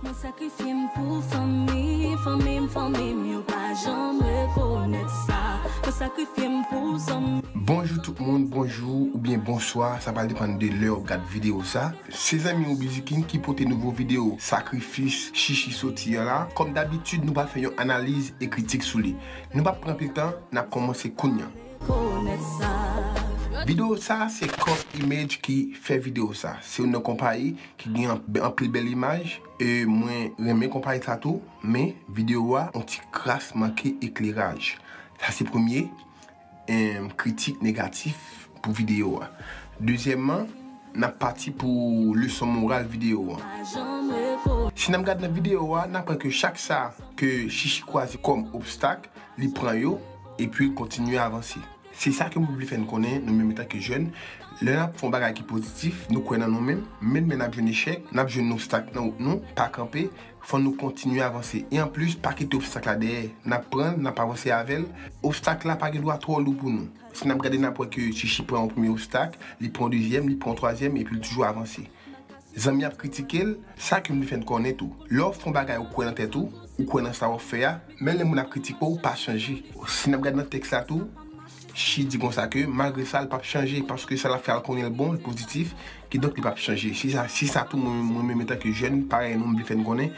Mwen sakrifye m pou fanmi, fanmi m, fanmi m yo pa janm rekonèt sa Mwen sakrifye m pou zanmi. Bonjou tout moun, bonjou oubyen bonswa, sa pral depann de lè ou gad video sa. Se zanmi ou Biziking ki pote nouvo video sakrifis Shishi soti an la. Kòm dabitid nou pa fè yon analiz e kritik sou li. Nou pap pran pil tan, nap kòmanse kounya. Video sa se Coff Image ki fè video sa. Se youn nan konpayi ki gen anpil bèl imaj e mwen renmen konpayi sa tou men video a yon ti kras manke ekleraj. Sa se premye kritik negatif pou video a. Dezyèman, n ap pati pou leson moral video an. Si n ap gade nan video a, n aprann ke chak sa ke Shishi kwaze kòm obstak, li pran yo, epi l kontinye avanse. Se sa ke mwen vle fè n konnen, nou menm etanke jèn, lè n ap fè yon bagay ki pozitif, nou kwè nan nou menm, menm lè n ap jwenn echèk, n ap jwenn obstak nan wout nou, pa kanpe, fò nou kontinye avanse. E anplis, pa kite obstak la dèyè, n ap pran l, n ap avanse avè l, obstak la pa gen dwa twò lou pou nou. Si n ap gade, n ap wè ke Chichi pran yon premye obstak, li pran yon dezyèm, li pran yon twazyèm, epi l toujou avanse. Zanmi ap kritike l, sa ki vle fè n konnen tou. Lè w ap fè yon bagay ou kwè nan tèt ou, ou kwè nan sa w ap fè a, menm lè moun ap kritike w, pa chanje. Si n ap gade nan tèks la tou, Shi di konsa ke malgre sa l pap chanje paske sa l ap fè a l konnen l bon, l pozitif, kidonk li pap chanje. Se sa tou mwen menm etanke jèn parèy nou m vle fè n konnen,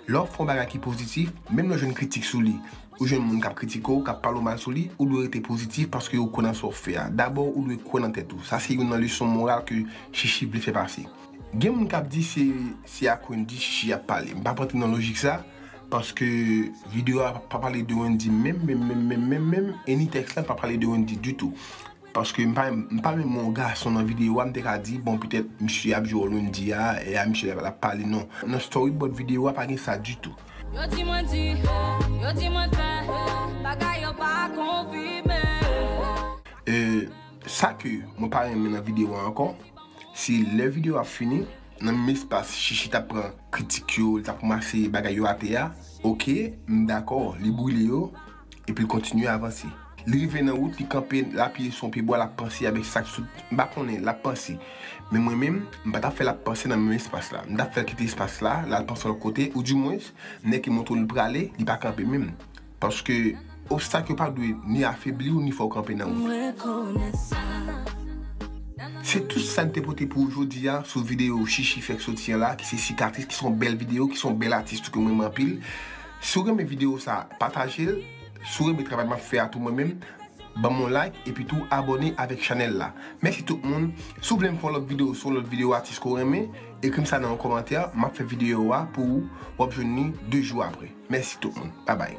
lè w ap fè yon bagay ki pozitif, menm lè w jwenn kritik sou li, Ou jwenn moun k ap kritike w, k ap pale w mal sou li, ou dwe rete pozitif paske ou kwè nan sa w fè a. Dabò ou dwe kwè nan tèt ou. Sa se youn nan leson moral ke Shishi vle fè pase. Gen moun k ap di se se ak Wendyy Shishi ap pale. M p ap antre nan lojik sa paske videyo a pa pale de Wendyy menm menm menm menm menm menm e ni tèks la pa pale de Wendyy ditou. Paske m pa menm wè yon gason nan videyo a m te ka di bon petèt misye ap jwe wòl Wendy a e a misye ap pale non. Nan storybòd videyo a pa gen sa ditou. Yo di mwen di, yo di mwen fè, bagay yo pa konfime. E sa ke mwen pa renmen nan videyo a ankò, se lè videyo a fini, nan menm espas Shishi t ap pran kritik yo, li t ap ranmase bagay yo atè a, ok, m dakò li brile yo, Epi l kontinye avanse. Li rive nan wout, li kanpe, l apiye sou yon pyebwa, l ap panse avèk sa k sou. M pa konnen, l ap panse. Men mwen menm, m pa t ap fè l ap panse nan menm espas la. M t ap fè l kite espas la, l al panse lòt kote, oudimwens, nèg ki montre w li prale, li pa kanpe menm. Paske, obstak yo pa dwe ni afebli w ni fè w kanpe nan wout. Se tout sa n te pote pou ou jodi a sou videyo Shishi fèk soti an la ki se Sikatris ki se yon bèl videyo, ki se yon bèl atis tou ke m renmen anpil. Si w renmen video sa pataje l, si w renmen travay map fè a tou mwen menm banm yon like epi tou abòne avèk chanèl la mèsi tout moun si w vle m fè yon lòt video sou yon lòt video atis ke w renmen ekrim sa nan yon kòmantè map fè video a pou ou wap jwenn li 2 jou aprè mèsi tout moun babay.